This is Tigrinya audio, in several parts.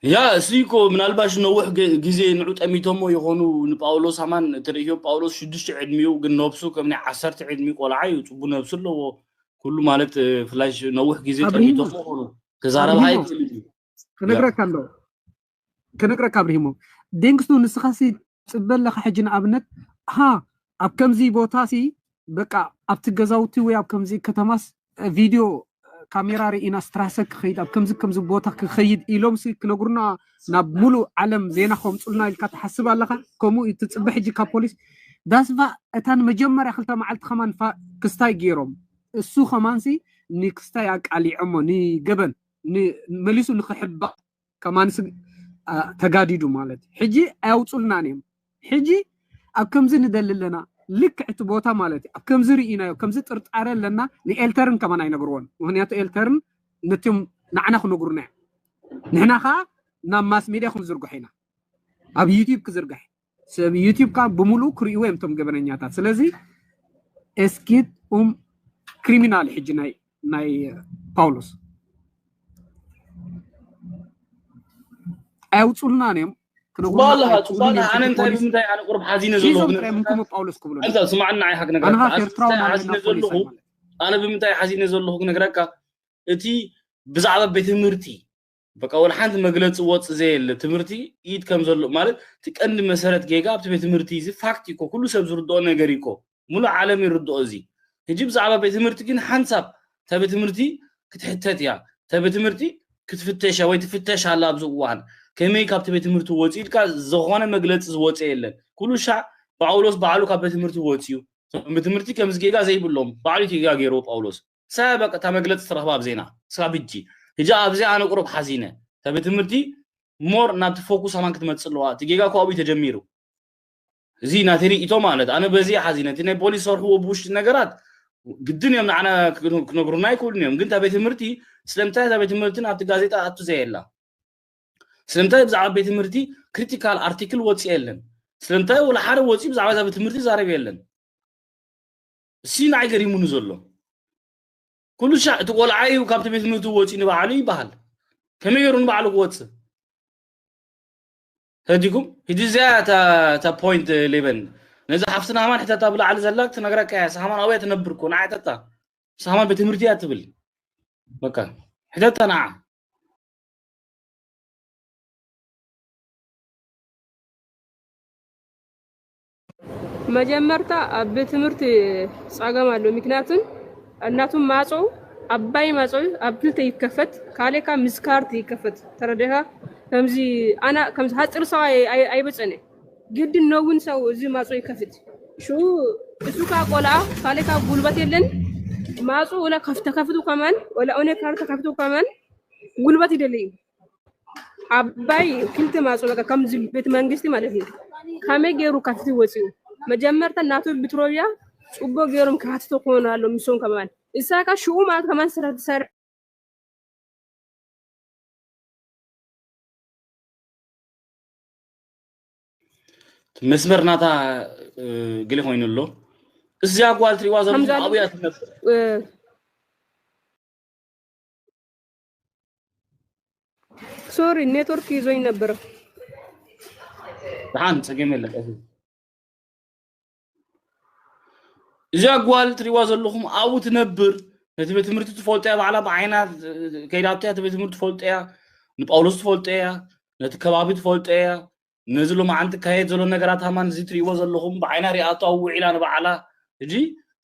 ያ እሱ እኮ ምናልባሽ ነውሕ ግዜ ንዑ ጠሚቶሞ ይኾኑ ንጳውሎስ ኣማን ትርእዮ ጳውሎስ ሽዱሽተ ዕድሚኡ ግን ነብሱ ከም ናይ ዓሰርተ ዕድሚ ቆልዓ እዩ ፅቡ ነብሱ ኣለዎ ኩሉ ማለት ፍላይ ነውሕ ግዜ ጠሚቶሞ ይኾኑ ክዛረብ ሃይ ክነግረካ ኣሎ ክነግረካ ኣብርሂሞ ዴንግስቱ ንስኻሲ ጽበ ኣለኻ ሕጂ ንኣብነት ሃ ኣብ ከምዚ ቦታሲ በቃ ኣብቲ ገዛውቲ ወይ ኣብ ከምዚ ከተማስ ቪድዮ ካሜራ ርኢና ስትራሰ ክኸይድ ኣብ ከምዚ ከምዚ ቦታ ክኸይድ ኢሎምሲ ክነግሩና ናብ ሙሉእ ዓለም ዜና ከምፁልና ኢልካ ትሓስብ ኣለኻ ከምኡ እዩ ትፅበ ሕጂ ካብ ፖሊስ ዳስቫ እታ ንመጀመርያ ክልተ መዓልቲ ከማን ክስታይ ገይሮም እሱ ከማንሲ ንክስታይ ኣቃሊዖሞ ንገበን መሊሱ ንክሕባእ ከማንስ ኣ- ተጋዲዱ ማለት እዩ። ሕጂ ኣያውፁልናን እዮም ሕጂ ኣብ ከምዚ ንደሊ ኣለና ልክዕ እቲ ቦታ ማለት እዩ ኣብ ከምዚ ርኢናዮ ከምዚ ጥርጣረ ኣለና ንኤልተርን ከማን ኣይነግርዎን ምክንያቱ ኤልተርን ነቶም ንዓና ክነግሩና እዮም ንሕና ከዓ ናብ ማስ ሜድያ ክንዝርግሖ ኢና ኣብ ዩትዩብ ክዝርጋሕ እዩ። ሰብ ዩቲብካ ብምሉእ ክርእይዎ እዮም እቶም ገበነኛታት ስለዚ ኤስኪት ኡም ክሪሚናል ሕጂ ናይ ናይ ጳውሎስ ኣየውፅሉናን እዮም ጽቡቅ ኣለኻ ጽቡቅ ኣለኻ ኣነ እንታይ ብምንታይ ኣነ ቁርብ ሓዚነ ዘለኹ ሒዞም ጥራይ ምንኩሞ ጳውሎስ ክብሉ ኣንታ ስማዕ ንዓይ ሓክ ነገራት ኣንኻ ኣነ ኤርትራዊ ብምንታይ ሓዚነ ናለና ዘለኹ ፖሊስ ኣነ ብምንታይ ሓዚነ ዘለኹ ክነግረካ እቲ ብዛዕባ ቤት ትምህርቲ በቃ ወላ ሓንቲ መግለፂ ወፅ ዘየለ ትምህርቲ ኢድ ከም ዘሎ ማለት እቲ ቀንዲ መሰረት ጌጋ ኣብቲ ቤት ትምህርቲ እዚ ፋክት እኮ ኩሉ ሰብ ዝርድኦ ነገር እኮ ሙሉእ ዓለም ይርድኦ እዚ ሕጂ ብዛዕባ ቤት ትምህርቲ ግን ሓንሳብ እታ ቤት ትምህርቲ ክትሕተት እያ እታ ቤት ትምህርቲ ክትፍተሽ ወይ ትፍተሽ ኣላ ኣብዚ እዋን ከመይ ካብቲ ቤት ትምህርቲ ወፂኡ ኢልካ ዝኾነ መግለፂ ዝወፀ የለን ኩሉ ሻዕ ጳውሎስ ባዕሉ ካብ ቤት ትምህርቲ ወፂኡ ቤት ትምህርቲ ከምዚ ጌጋ ዘይብሎም ባዕሉ ጌጋ ገይርዎ ጳውሎስ ሳያ በቃ እታ መግለጺ ትረኽባ ኣብ ዜና ስካብ ሕጂ ሕጂ ኣብዚ ኣነ ቁሩብ ሓዚነ እታ ቤት ትምህርቲ ሞር ናብቲ ፎኩስ ኣማን ክትመጽእ ኣለዋ እቲ ጌጋ እኮ ኣብኡ ተጀሚሩ እዚ ናተይ ርእይቶ ማለት ኣነ በዚ ሓዚነ እቲ ናይ ፖሊስ ሰርሕዎ ብውሽጢ ነገራት ግድን እዮም ንዓና ክነግሩና ኣይክእሉን እዮም ግን እታ ቤት ትምህርቲ ስለምንታይ እዛ ቤት ትምህርቲ ናብቲ ጋዜጣ ኣቱ ዘየላ ስለምንታይ ብዛዕባ ቤት ትምህርቲ ክሪቲካል ኣርቲክል ወፂ የለን ስለምንታይ ወላ ሓደ ወፂ ብዛዕባ እዛ ቤት ትምህርቲ ዛረብ የለን እሲ ንዓይ ገሪሙኒ ዘሎ ኩሉ ሻዕ እቲ ቆልዓ እዩ ካብቲ ቤት ትምህርቲ ወፂኡ ንባዕሉ ይበሃል ከመይ ገይሩ ንባዕሉ ክወፅእ ተዲኩም ሕጂ እዚኣ እታ ፖይንት ሌበን ነዛ ሓፍትና ሃማን ሕተታ ብላዕሊ ዘላ ክትነግረካ እያ ሳሃማን ኣብያ ትነብር ኮ ንዓ ሕተታ ሳሃማን ቤት ትምህርቲ እያ ትብል በቃ ሕተታ ንዓ መጀመርታ ኣብ ቤት ትምህርቲ ጸገም ኣሎ ምክንያቱን እናቱም ማጾ ኣባይ ማጾ ኣብ ክልተ ይከፈት ካሌካ ምስ ካርት ይከፈት ተረዴኻ ከምዚ ኣና ከምዚ ሃጽር ሰው ኣይበጸነ ግድን ነውን ሰው እዚ ማጾ ይከፍት ሹ እሱ ካ ቆልኣ ካሌካ ጉልበት የለን ማጹ ወላ ከፍተ ከፍቱ ከመን ወላ ኦነ ካርት ከፍቱ ከመን ጉልበት ይደለዩ ዓባይ ክልተ ማዕጾ በቃ ከምዚ ቤት መንግስቲ ማለት እዩ ከመይ ገይሩ ካብቲ ወፂኡ መጀመርታ ናቱ ብትሮያ ፅቡቅ ገይሮም ክሓትቶ ክኾኑ ኣሎ ምሶም ከማን እሳካ ሽኡ ማለት ከማን ስራ ትሰርሕ መስመር ናታ እ፣ ግሊ ኮይኑ ኣሎ እዚኣ ጓል ትሪዋ ከምዚ ዘለኹም ኣሎ ኣብያ ትነብር እ፣ ሶሪ ኔትወርክ ይዞኝ ነበረ። ደሓን ፀገም የለን ቀስ እዚ ኣጓል ትሪዋ ዘለኹም ኣብኡ ትነብር ነቲ ቤት ትምህርቲ ትፈልጦ እያ ባዕላ ብዓይና ከይዳቶ እያ እቲ ቤት ትምህርቲ ትፈልጦ እያ ንጳውሎስ ትፈልጦ እያ ነቲ ከባቢ ትፈልጦ እያ ነዚ ሎማዓንቲ ካየድ ዘሎ ነገራት ሃማን እዚ ትሪእዎ ዘለኹም ብዓይና ሪኣቶ ኣብ ውዒላ ንባዕላ ሕጂ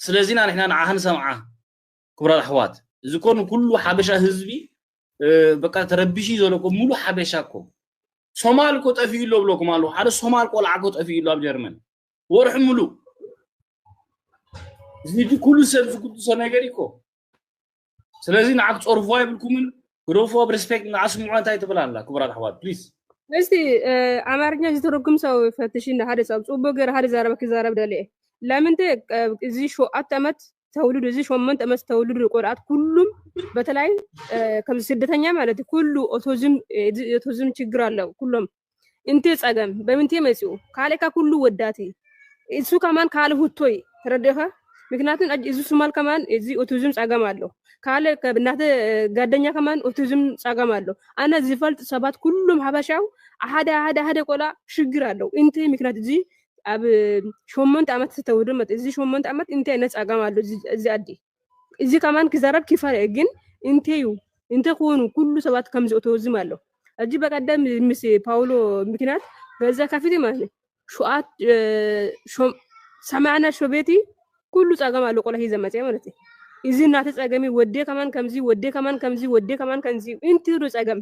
ስለዚና ንሕና ንዓኻ ንሰምዓ ክቡራት ኣሕዋት እዚ እኮ ንኩሉ ሓበሻ ህዝቢ በቃ ተረቢሹ ዘሎ እኮ ሙሉእ ሓበሻ እኮ ሶማል እኮ ጠፊኡ ኣሎ ብለኩም ኣለኹ ሓደ ሶማል ቆልዓ እኮ ጠፊኡ ኣሎ ኣብ ጀርመን ወርሒ ሙሉእ እዚ ኩሉ ሰብ ዝጉድሶ ነገር እኮ ስለዚ ንዓ ክፀርፍዋ የብልኩምን ግደፎ ብ ሬስፔክት ንዓ ስምዑ እንታይ ትብል ኣላ ክቡራት ኣሕዋት ፕሊዝ እስቲ ኣማርኛ ዝተረጉም ሰው ፈትሽ እንደ ሓደ ሰብ ጽቡቅ ገር ሓደ ዛረበ ክዛረብ ደልየ ለምንተ እዚ ሸውዓተ ዓመት ተውልዱ እዚ ሸሞንተ ዓመት ተውልዱ ቆልኣት ኩሉም በተለይ ከም ስደተኛ ማለት እዩ ኩሉ ኦቲዝም ኦቲዝም ችግር ኣለው ኩሎም እንቴ ጸገም በምንቴ መጽኡ ካልእካ ኩሉ ወዳት እሱ ከማን ካል ሁቶይ ተረዲኻ ምክንያቱም እዚ ሱማል ከማን እዚ ኦቲዝም ጸገም ኣሎ ካለ እናተ ጋደኛ ከማን ኦቲዝም ጸገም ኣሎ ኣነ ዝፈልጥ ሰባት ኩሉም ሓበሻው ሓደ ሓደ ሓደ ቆልኣ ሽግር ኣለው እንቴ ምክንያት እዚ ኣብ ሸሞንተ ዓመት ተተውዶ መጥ እዚ ሸሞንተ ዓመት እንታይ ዓይነት ጸጋም ኣሎ እዚ ኣዲ እዚ ከማን ክዛረብ ኪፈር እየ ግን እንተዩ እንተኮኑ ኩሉ ሰባት ከም ዝእተወዝም ኣሎ እዚ በቀደም ምስ ፓውሎ ምክንያት ገዛ ካፊቲ ማለት እዩ ሸዓት ሰማዕና ሸቤቲ ኩሉ ጸጋም ኣሎ ቆላ ሂዘ መጽ ማለት እዩ እዚ እናተ ጸገሚ ወዴ ከማን ከምዚ ወዴ ከማን ከምዚ ወዴ ከማን ከምዚ እንትሩ ጸገም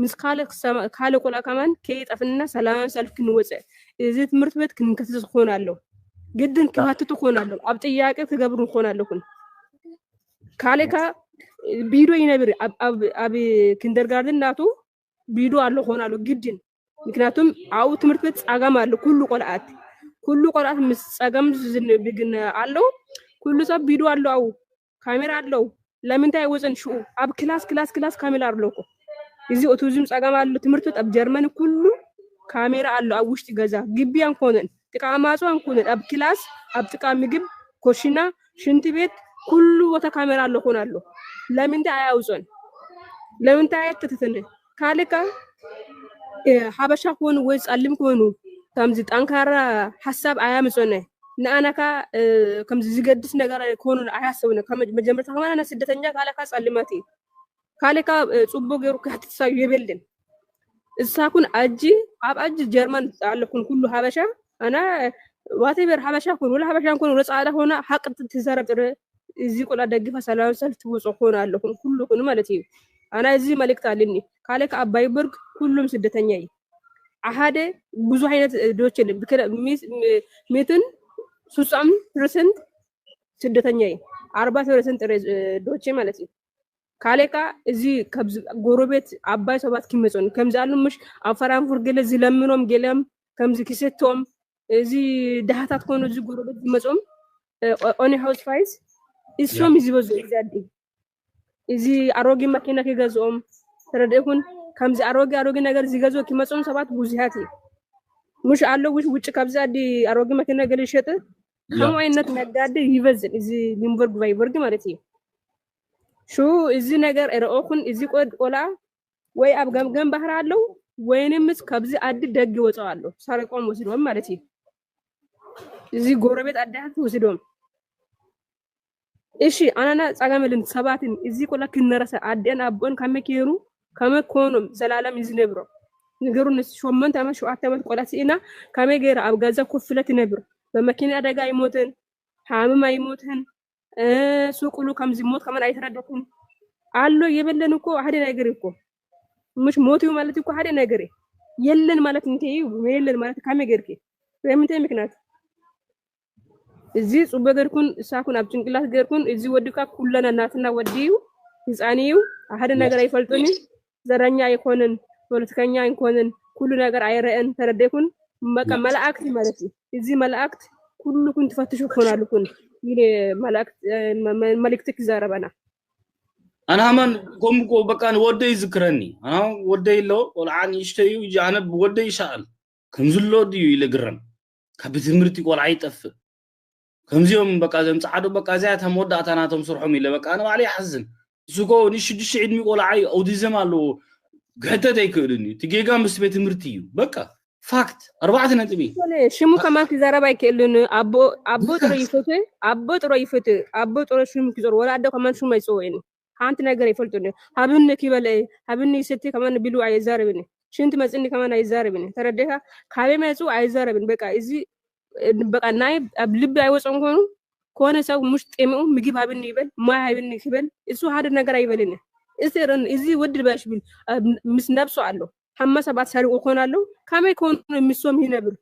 ምስ ካልእ ቆልኣ ከማን ከይጠፍእና ሰላማዊ ሰልፊ ክንወጽእ እዚ ትምህርት ቤት ክንከስስ ክኾን ኣሎ ግድን ክሃትቱ ክኾን ኣሎ ኣብ ጥያቄ ክገብሩ ክኾን ኣለኩን ካልእ ከ ቢዶ ይነብር ኣብ ኪንደርጋርደን ናቱ ቢዶ ኣሎ ክኾን ኣሎ ግድን ምክንያቱም ኣብኡ ትምህርት ቤት ጸገም ኣሎ ኩሉ ቆልኣት ኩሉ ቆልኣት ምስ ጸገም ብግን ኣሎ ኩሉ ሰብ ቢዶ ኣሎ ኣብኡ ካሜራ ኣለው ለምንታይ ኣይወፅን ሽኡ ኣብ ክላስ ክላስ ክላስ ካሜራ ኣሎ እኮ እዚ ኦቲዝም ፀገም ኣሎ ትምህርት ቤት ኣብ ጀርመን ኩሉ ካሜራ ኣሎ ኣብ ውሽጢ ገዛ ግቢ ኣንኮነን ጥቃ ማፁ ኣንኮነን ኣብ ክላስ ኣብ ጥቃ ምግብ ኮሽና ሽንት ቤት ኩሉ ቦታ ካሜራ ኣሎ ኮን ኣሎ ለምንታይ ኣያውፅን ለምንታይ ኣይከተተንን ካልእ ከኣ ሓበሻ ክኾኑ ወይ ጸሊም ክኾኑ ከምዚ ጠንካራ ሓሳብ ኣያምጽኡነ ንኣና ከኣ ከምዚ ዝገድስ ነገር ክኾኑ ኣያሰቡነ ካብ መጀመርታ ከማን ኣነ ስደተኛ ካልእ ከኣ ጸልማት እዩ ካልእ ከኣ ጽቡቅ ገይሩ ክሕትትሳዩ የብልን እሳኩን ኣጂ ኣብ ኣጂ ጀርመን ኣለኩን ኩሉ ሓበሻ ኣና ዋቴቨር ሓበሻ ኮኑ ወላ ሓበሻ ኮኑ ወላ ጻዕዳ ኮኑ ሓቂ ትዛረብ ጥረ እዚ ቁልዓ ደግፋ ሰላማዊ ሰልፍ ትውፁ ኩኑ ኣለኹም ኩሉ ኩኑ ማለት እዩ ኣና እዚ መልእክት ኣልኒ ካለ ከዓ ባይበርግ ኩሉም ስደተኛ እዩ ሓደ ብዙ ዓይነት ዶች ሚትን ሱሳም ፐርሰንት ስደተኛ እዩ ኣርባ ፐርሰንት ዶች ማለት እዩ ካለ ከዓ እዚ ከዚ ጎረቤት ኣባይ ሰባት ክመፁን ከምዚ ኣሉ ምሽ ኣብ ፈራንፉር ገለ ዝለምኖም ገለም ከምዚ ክሰቶም እዚ ድሃታት ኮኑ እዚ ጎረበት ዝመፅኦም ኦኒ ሃውስ ፋይስ እሶም እዩ ዝበዝሑ እዚ ኣዲ እዚ ኣሮጌ መኪና ክገዝኦም ተረድእኩን ከምዚ ኣሮጌ ኣሮጌ ነገር ዝገዝኦ ክመፅኦም ሰባት ብዙሃት እዩ ሙሽ ኣሎ ውሽ ውጭ ካብዚ ኣዲ ኣሮጌ መኪና ገለ ይሸጥ ከምኡ ዓይነት ነጋዴ ይበዝን እዚ ሊምበርግ ቫይበርግ ማለት እዩ ሹ እዚ ነገር ረኦኹን እዚ ቆድ ቆልዓ ወይ ኣብ ገምገም ባህር ኣለዉ ወይንምስ ካብዚ ኣዲ ደግ ይወፅኦ ኣሎ ሳሪቆም ወስዶም ማለት እዩ እዚ ጎረቤት ኣዳት ወስዶም እሺ ኣናና ጸገመልን ሰባትን እዚ ቆላ ክነረሰ ኣደን ኣቦን ከመይ ከይሩ ከመይ ኮኖም ዘላለም ይዝነብሮ ንገሩ ንስ ሸሞንተ ዓመት ሸውዓተ ዓመት ቆላ ስኢና ከመይ ገይራ ኣብ ገዛ ኮፍ ኢለ ትነብር በመኪና ኣደጋ ኣይሞትን ሓምም ኣይሞትን ሱቁሉ ከምዚ ሞት ከመን ኣይተረደኩም ኣሎ የበለን እኮ ሓደ ነገር እኮ ምሽ ሞት እዩ ማለት እኮ ሓደ ነገር እዩ የለን ማለት እንታይ እዩ የለን ማለት ካመይ ጌርኪ በምንታይ ምክንያት እዚ ጽበ ገርኩን እሳኩን ኣብ ጭንቅላት ገርኩን እዚ ወድካ ኩለና ናትና ወዲ እዩ ህፃን እዩ ሓደ ነገር ኣይፈልጡን እዩ ዘረኛ ኣይኮንን ፖለቲከኛ ኣይኮንን ኩሉ ነገር ኣይረእን ተረዴኩን መቃ መላእክት ማለት እዚ መላእክት ኩሉኩን ትፈትሹ ኮናልኩን ይኔ መላእክት መልእክትክ ይዛረበና ኣናማን ከምኮ በቃ ወደይ ይዝክረኒ ኣና ወደይ ኣሎ ቆልዓ ንእሽተዩ እጅ ኣነ ወደይ ይሰኣል ከምዝሎ ድዩ ኢለ ግረም ካብ ትምህርቲ ቆልዓ ይጠፍእ ከምዚኦም በቃ ዘም ጻዓዱ በቃ እዚኣ እታ መወዳእታ ናቶም ስርሖም ኢለ በቃ ኣነ ባዕለይ ይሓዝን ንሱ ኮ ን ሽዱሽተ ዕድሚ ቆልዓ እዩ ኣውቲዝም ኣለዎ ክሕተት ኣይክእልን እዩ እቲ ጌጋ ምስ ቤት ትምህርቲ እዩ በቃ ፋክት ኣርባዕተ ነጥቢ ሽሙ ከማን ክዛረብ ኣይክእልን ኣቦ ኣቦ ጥሮ ይፍትህ ኣቦ ጥሮ ይፍትህ ኣቦ ጥሮ ሽሙ ክዞር ወላ ኣደ ከማን ሽሙ ኣይጽውዕን ሓንቲ ነገር ይፈልጡን እዮም። ሃብኒ ክበለ እየ፣ ሃብኒ ይሰቲ ከማን ቢሉ ኣይዛረብን እዩ። ሽንቲ መፅኒ ከማን ኣይዛረብን እዩ። ተረዴኻ? ካበይ መፁ ኣይዛረብን። በቃ እዚ በቃ ናይ ኣብ ልቢ ኣይወፅኦም ኮይኑ ከሆነ ሰው ሙሽ ጤምኡ ምግብ ሃብኒ ይበል ማይ ሃብኒ ክበል እሱ ሓደ ነገር ኣይበልን እዩ። እዚ ረን እዚ ወዲ ልባሽ ብል ኣብ- ምስ ነብሱ ኣሎ ሓማ ሰባት ሰሪቑ ኮን ኣሎ ካመይ ኮኑ ምሶም ይነብር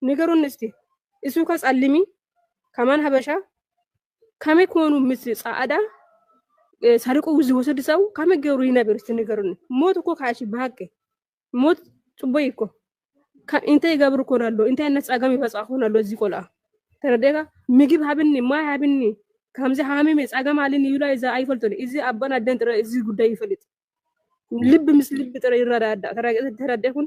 ንገሩኒ እስቲ እሱ ከጸልሚ ከማን ሀበሻ ከመይ ኮኑ ምስ ጻዕዳ ሰርቁ ዝወሰዱ ሰው ከመይ ገሩ ይነብር እስቲ ንገሩኒ። ሞት እኮ ካሽ ብሃቂ ሞት ጽቡይ እኮ እንታይ ይገብር ኮን ኣሎ እንታይ ዓይነት ጸገም ይበጽኣ ኮን ኣሎ እዚ ቆልኣ ተረዴካ ምግብ ሃብኒ ማይ ሃብኒ ከምዚ ሃሚመ ጸገም ኣልኒ ይብላ እዚ ኣይፈልጡን እዚ ኣቦን ኣደን ጥረ እዚ ጉዳይ ይፈልጥ ልብ ምስ ልብ ጥረ ይረዳዳ ተረዴኩን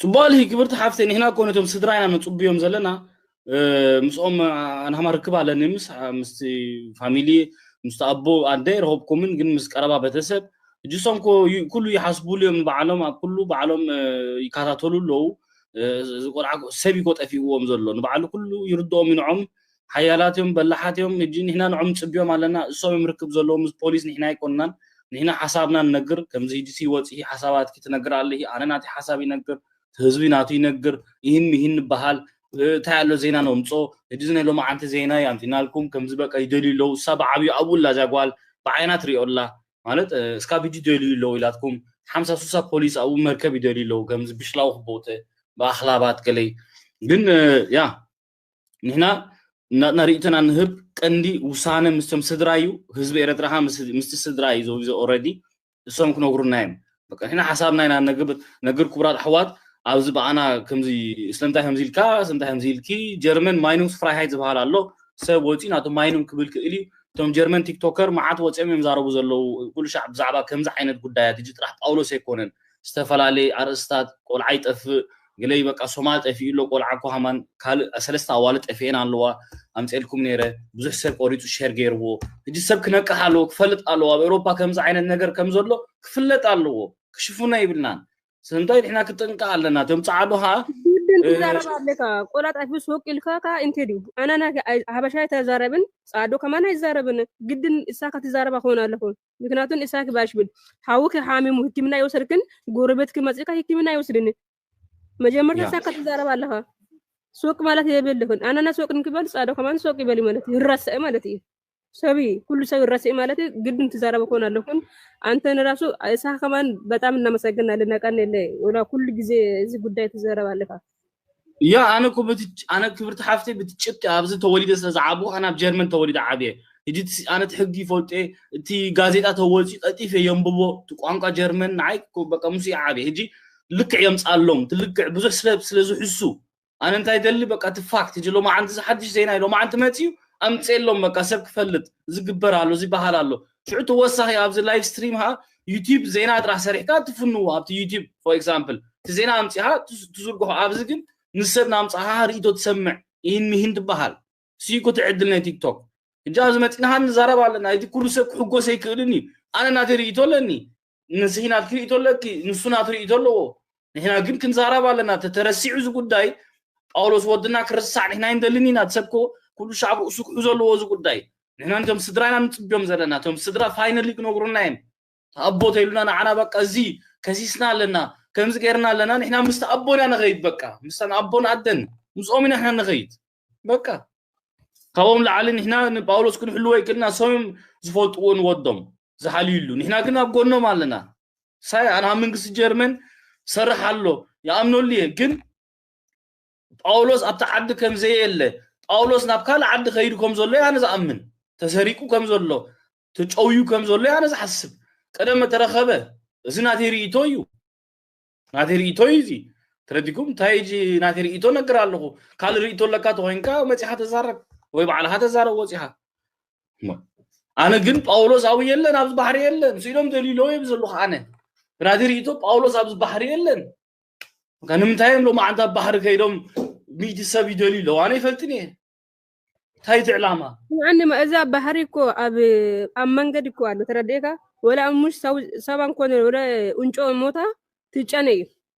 ጽቡቅ ኣልሂ ክብርቲ ሓፍተይ ንሕና እኮ ነቶም ስድራ ኢና ነጽብዮም ዘለና ምስኦም ኣንሃማ ርክብ ኣለኒ ምስ ምስቲ ፋሚሊ ምስቲ ኣቦ ኣደ ረኸብኩምን ግን ምስ ቀረባ ቤተሰብ እጅሶም ኮ ኩሉ ይሓስቡሉ እዮም ንበዓሎም ኣብ ኩሉ በዓሎም ይከታተሉ ኣለዉ ቆልዓ ሰብ ኮ ጠፊእዎም ዘሎ ንበዓሉ ኩሉ ይርድኦም ይንዖም ሓያላት እዮም በላሓት እዮም እጂ ንሕና ንዖም ንጽብዮም ኣለና እሶም እዮም ርክብ ዘለዎም ምስ ፖሊስ ንሕና ኣይኮንናን ንሕና ሓሳብና ንነግር ከምዚ ሂጂሲ ወጺኪ ሓሳባትኪ ትነግሪ ኣለኪ ኣነ ናተይ ሓሳብ ይነግር ትህዝቢ ናቱ ይነግር ኢሂን ሚሂን ንባሃል እንታይ ኣሎ ዜና ነምጾ እጂ እዚ ናይ ሎማዓንቲ ዜና እዩ ኣምጺናልኩም ከምዚ በቃ ይደልዩ ኣለዉ እሳ ብዓብዩ ኣብኡ ኣላ እዛ ጓል ብዓይና ትሪኦ ኣላ ማለት እስካብ ሂጂ ይደልዩ ኣለዉ ኢላትኩም ሓምሳ ሱሳ ፖሊስ ኣብኡ መርከብ ይደልዩ ኣለዉ ከምዚ ብሽላው ክቦተ ብኣክላባት ገለይ ግን ያ ንሕና ናትና ርእይቶና ንህብ ቀንዲ ውሳነ ምስቶም ስድራ እዩ ህዝቢ ኤረትራ ከ ምስቲ ስድራ እዩ ዘውዘ ኦረዲ እሶም ክነግሩና እዮም በቃ ንሕና ሓሳብና ኢና ነግብ ነግር ክቡራት ኣሕዋት ኣብዚ በኣና ከምዚ ስለምንታይ ከምዚ ኢልካ ስለምንታይ ከምዚ ኢልኪ ጀርመን ማይኑንግስ ፍራይሃይት ዝበሃል ኣሎ ሰብ ወፂኡ ናቱ ማይኑንግ ክብል ክእል እዩ እቶም ጀርመን ቲክቶከር መዓት ወፂኦም እዮም ዛረቡ ዘለዉ ኩሉ ሻዕ ብዛዕባ ከምዚ ዓይነት ጉዳያት እጅ ጥራሕ ጳውሎስ ኣይኮነን ዝተፈላለየ ኣርእስታት ቆልዓ ይጠፍእ ግለይ በቃ ሶማል ጠፊኡ ኣሎ ቆልዓ ኩሃማን ካልእ ሰለስተ ኣዋልድ ጠፊኤን ኣለዋ ኣምጼልኩም ኔረ ብዙሕ ሰብ ቆሪጹ ሸር ጌርዎ ህጂ ሰብ ክነቅሕ ኣለዎ ክፈልጥ ኣለዎ ኣብ ኤሮፓ ከምዚ ዓይነት ነገር ከም ዘሎ ክፍለጥ ኣለዎ ክሽፉኖ ይብልናን ስለምንታይ ንሕና ክጥንቀቅ ኣለና እቶም ጻዓዱ ከኣ ግድን ትዛረብ ኣለካ ቆላ ጣፊ ሱቅ ኢልካ ከ እንተ ድዩ ኣናና ሃበሻ ኣይተዛረብን ጻዶ ከማን ኣይዛረብን ግድን እሳ ከትዛረባ ክኾን ኣለኹ ምክንያቱ ንእሳ ክባሽብል ሓውኪ ሓሚሙ ህክምና ይወሰድክን ጎረቤትኪ መፅእካ ህክምና ይወስድኒ መጀመርታ እሳ ከተዛረብ ኣለኻ ሱቅ ማለት የብልክን ኣነና ሱቅ ንክበል ፃዶ ከማን ሱቅ ይበል ማለት ይረሰእ ማለት እዩ ሰቢ ኩሉ ሰው ይረሰእ ማለት ግድን ትዛረበ ከሆን ኣለኩን አንተን ራሱ እሳ ከማን በጣም እናመሰግናለን ነቀን የለ ኩሉ ጊዜ እዚ ጉዳይ ትዘረብ ኣለካ ያ ኣነ እኮ በቲ ኣነ ክብርቲ ሓፍተይ በቲ ጭብጢ ኣብዚ ተወሊደ ስለ ዝዓብኹ ኣነ ኣብ ጀርመን ተወሊደ ዓብየ ሕጂ እቲ ኣነ እቲ ሕጊ ይፈልጦ እየ እቲ ጋዜጣ ተወልፂ ቀልጢፈ የንብቦ እቲ ቋንቋ ጀርመን ንዓይ በቃ ምስ እየ ዓብየ ሕጂ ልክዕ የምፃሎም እቲ ልክዕ ብዙሕ ስለ ስለ ዝሕሱ ኣነ እንታይ ደሊ በቃ እቲ ፋክት ሕጂ ሎማዓንቲ እዚ ሓድሽ ዜና እዩ ሎማዓንቲ መፅዩ ኣምፅኤሎም በቃ ሰብ ክፈልጥ እዚ ግበር ኣሎ እዚ በሃል ኣሎ ሽዑ ተወሳኺ ኣብዚ ላይቭ ስትሪም ኸኣ ዩቲብ ዜና ጥራሕ ሰሪሕካ ትፍንዎ ኣብቲ ዩቲብ ፎር ኤግዛምፕል እቲ ዜና ኣምጺኻ ትዝርግሖ ኣብዚ ግን ምስ ሰብ ናምጻኻ ርእይቶ ትሰምዕ ኢሂን ሚሂን ትበሃል ስኢኩ ትዕድል ናይ ቲክቶክ ሕጂ ኣብዚ መጺእና ኸኣ ንዛረብ ኣለና እቲ ኩሉ ሰብ ክሕጎስ ኣይክእልን እዩ ኣነ ናተይ ርእይቶ ኣለኒ ንስኺ ናትኪ ርእቶ ኣለኪ ንሱ ናቱ ርእቶ ኣለዎ ንሕና ግን ክንዛረብ ኣለና ተተረሲዑ እዚ ጉዳይ ጳውሎስ ወድና ክርሳዕ ንሕና ይንደልን ኢና ሰብኮ ኩሉ ሻዕ ኣብ ርእሱ ክሕዞ ኣለዎ እዚ ጉዳይ ንሕና ንቶም ስድራ ኢና ንፅብዮም ዘለና እቶም ስድራ ፋይናሊ ክነግሩና እዮም ኣቦ ተይሉና ንዓና በቃ እዚ ከሲስና ኣለና ከምዚ ገይርና ኣለና ንሕና ምስቲ ኣቦና ንኸይድ በቃ ምስታን ኣቦን ኣደን ምስኦም ኢና ንሕና ንኸይድ በቃ ካብኦም ላዓሊ ንሕና ንጳውሎስ ክንሕልዎ ይክእልና ሰም ዝፈልጥዎ ንወዶም ዝሓልዩሉ ንሕና ግን ኣብ ጎኖም ኣለና ሳይ ኣና መንግስቲ ጀርመን ሰርሕ ኣሎ ይኣምነሉ እየ ግን ጳውሎስ ኣብቲ ዓዲ ከም ዘየለ ጳውሎስ ናብ ካልእ ዓዲ ከይዱ ከም ዘሎ ኣነ ዝኣምን ተሰሪቁ ከም ዘሎ ተጨውዩ ከም ዘሎ ኣነ ዝሓስብ ቀደም ተረኸበ እዚ ናተይ ርእይቶ እዩ ናተይ ርእቶ እዩ እዚ ተረዲኩም እንታይ እጂ ናተይ ርእቶ ነግር ኣለኹ ካልእ ርእቶ ኣለካ ተኮይንካ መፂኻ ተዛረብ ወይ ባዕልኻ ተዛረብ ወፂኻ ኣነ ግን ጳውሎስ ኣብኡ የለን ኣብዚ ባሕሪ የለን ስኢሎም ደሊሎ እየ ዘለኹ ኣነ ብናተይ ርእቶ ጳውሎስ ኣብዚ ባሕሪ የለን ንምንታይ እዮም ሎማዓንቲ ኣብ ባሕሪ ከይዶም ሚእቲ ሰብ ይደልዩ ኣለዉ ኣነ ይፈልጥን እየ እንታይ እቲ ዕላማ ንዓንማ እዛ ባህሪ እኮ ኣብ ኣብ መንገዲ እኮ ኣሎ ተረዲእካ ወላ ሙሽ ሰብ- ሰባ እንኮነ ወላ እንጮ ሞታ ትጨነ እዩ